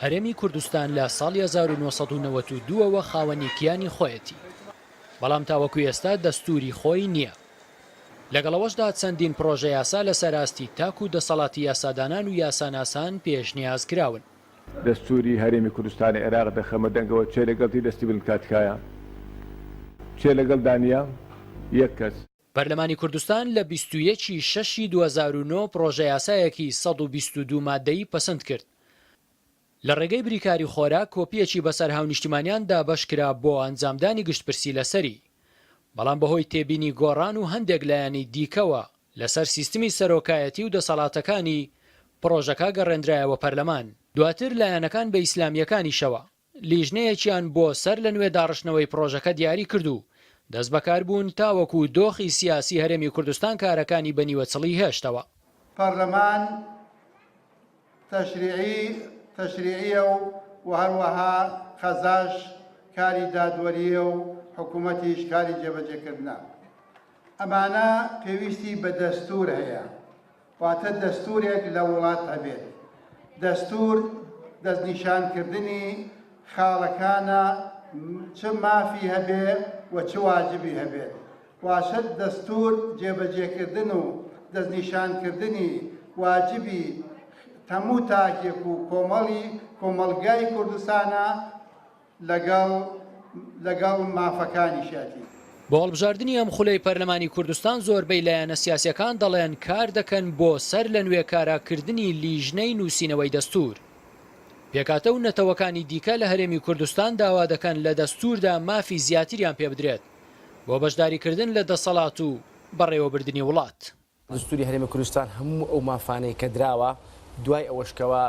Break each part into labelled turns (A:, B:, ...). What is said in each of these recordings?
A: هەرێمی کوردستان لە ساڵی هەزار و نۆ سەد و نەوەد و دوو ەوە خاوەنی کیانی خۆیەتی، بەڵام تاوەکو ئێستا دەستووری خۆی نییە. لەگەڵ ئەوەشدا چەندین پڕۆژەیاسا لەسەر ئاستی تاک و دەسەڵاتی یاسادانان و یاساناسان پێشنیاز کراون. دەستووری
B: هەرێمی کوردستانی عێراق دەخەمە دەنگەوە کێ لەگەڵ دی دەستی بن بکات تکایە؟ کێ لەگەڵ دا نییە؟ یەک کەس. پەرلەمانی کوردستان
A: لە بیست و یەک ی شەش ی دوو هەزار و نۆ پڕۆژەیاسایەکی سەد و بیست و دوو ماددەیی پەسند کرد لە ڕێگەی بریکاری خۆراک کۆپییەکی بەسەر هاونیشتیمانیان دابەش کرا بۆ ئەنجامدانی گشتپرسی لەسەری بەڵام بەهۆی تێبینی گۆڕان و هەندێک لایەنی دیکەوە لەسەر سیستمی سەرۆکایەتی و دەسەڵاتەکانی پڕۆژەکە گەڕێندرایەوە پەرلەمان. دواتر لایەنەکان بە ئیسلامییەکانیشەوە لیژنەیەکیان بۆ سەر لە نوێ داڕشتنەوەی پڕۆژەکە دیاری کرد و دەست بەکار بوون تاوەکو دۆخی سیاسی هەرێمی کوردستان کارەکانی بە نیوە چڵی هێشتەوە. پەرلەمان
C: تەشریعی تەشریعیە و و هەروەها قەزاش کاری دادوەریە و حکومەتیش کاری جێبەجێکردنە. ئەمانە پێویستی بە دەستور هەیە. واتە دەستورێک لە وڵات هەبێت. دەستور دەستنیشان کردنی خاڵەکانە چ مافی هەبێ و چ واجبی هەبێت. واشە دەستور جێبەجێکردن و دەستنیشان کردنی واجبی هەموو تاکێک و کۆمەڵی کۆمەڵگای کوردستانە لەگەڵ لەگەڵ مافەکانیشیەتی. بۆ هەڵبژاردنی
A: ئەم خولەی پەرلەمانی کوردستان زۆربەی لایەنە سیاسیەکان دەڵێن کار دەکەن بۆ سەر لە نوێ کارا کردنی لیژنەی نوسینەوەی دەستور. پێکاتە و نەتەوەکانی دیکە لە هەرێمی کوردستان داوا دەکەن لە دەستوردا مافی زیاتریان پێبدرێت بۆ بەشداری کردن لە دەسەڵات و بەڕێوەبردنی وڵات. دەستووری هەرێمی
D: کوردستان هەموو ئەو مافانەی کە دراوە، دوای ئەوەش کەوا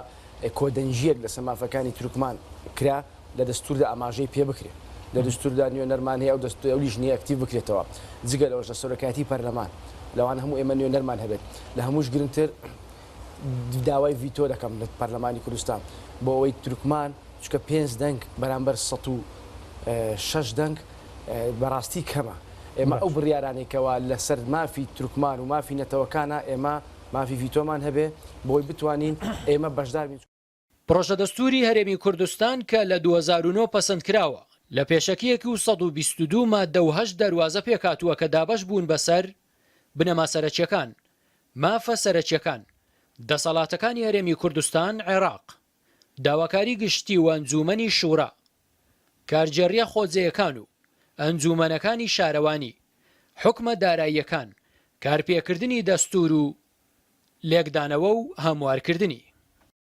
D: کۆدەنگییەک لەسەر مافەکانی تورکمان کرا، لە دەستووردا ئاماژەی پێ بکرێ. لە دەستووردا نوێنەرمان هەیە، ئەو دەستوورە ئەویش نییە ئەکتیڤ بکرێتەوە. جگە لەوەش لە سەرۆکایەتیی پەرلەمان، لەوانە هەموو ئێمە نوێنەرمان هەبێت. لە هەمووش گرنگتر، داوای ڤیتۆ دەکەم لە پەرلەمانی کوردستان بۆ ئەوەی تورکمان چکە پێنج دەنگ بەرامبەر سە و شش دەنگ بەڕاستی کەمە ئێمە ئەو بڕیارانێکەوە لەسەر مافی تورکمان و مافی نەتەوەکانە ئێمە مافی ڤیتۆمان هەبێ بۆی بتوانین ئێمە بەشدار بین. پڕۆژە دەستووری
A: هەرێمی کوردستان کە لە دوو هەزار و نۆ پەسەند کراوە، لە پێشەکییەکی و سەد و بیست و دوو ماددە و هەشت دەروازە پێکهاتووە کە دابەش بوون بەسەر، بنەما سەرەکییەکان، مافە سەرەکییەکان، دەسەڵاتەکانی هەرێمی کوردستان، عێراق، داواکاری گشتی و ئەنجوومەنی شوورا، کارگێڕییە خۆجێیەکان و ئەنجوومەنەکانی شارەوانی، حوکمە داراییەکان، کارپێکردنی دەستوور و لێکدانەوە و هەموارکردنی.